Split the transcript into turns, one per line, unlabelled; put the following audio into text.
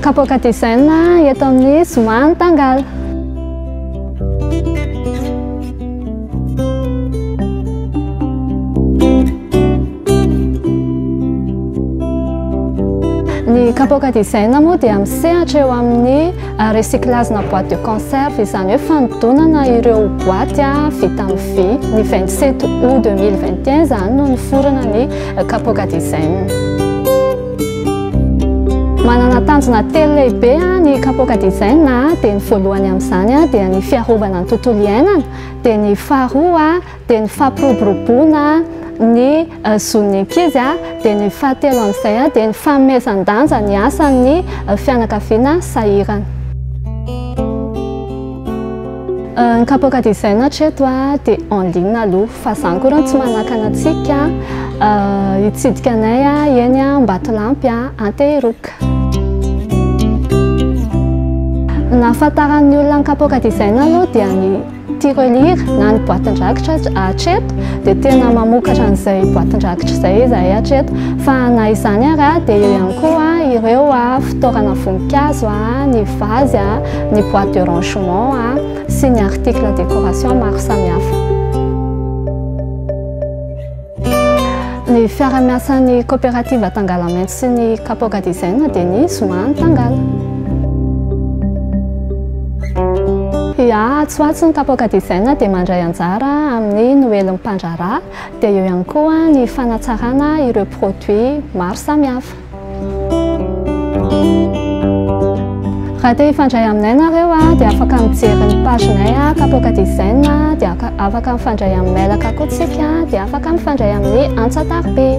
Kapoaka design eto amin'ny Zoma Antangal. Ny kapoka design moa dia misehatra eo amin'ny euh, recyclage-na boîte de conserve izany hoe fanodonana ireo boîte ah, vita amin'ny vy ny 27 août 2021 izany no niforona ny euh, kapoka design Manana tanjona telo lehibe ny kapoaka design dia ny voalohany amin'izany dia ny fiarovana ny tontolo iainana dia ny faharoa dia ny fampiroboroboana ny zon'ny ankizy dia ny fahatelo amin'izay dia ny fanomezan-danja ny asan'ny fianakaviana sahirana. Ny kapoaka design hatreto a, dia en ligne aloha, fa izany koa r'ano tsy manakana antsika hitsidika anay a, eny Ambatolampy a, Antehiroka. Ny nahafantaran'ny olona ny kapoaka design aloha dia ny tirelire na ny boatin-drakitra hatreto, dia tena mamokatra an'izay boatin-drakitra izay izahay hatreto, fa na izany ary a, dia eo ihany koa ireo fitaovana voninkazo a, ny vazy a. ny boîte de rangement sy ny article décoration maro samihafa. Ny fiara-miasan'ny coopérative Tangalamaitso sy ny Kapoka Design dia ny Zomany Tangala. Ya, Tsoatso ny Kapoka Design dia mandray anjara amin'ny Noelin'ny Mpandraharaha, dia eo ihany koa ny fanatsarana ireo produits maro samihafa. Raha te hifandray aminay nareo dia afaka mijery ny pagenay Kapoaka Design dia afaka mifandray amin'ny mailaka koa tsika dia afaka mifandray amin'ny antsa taribe.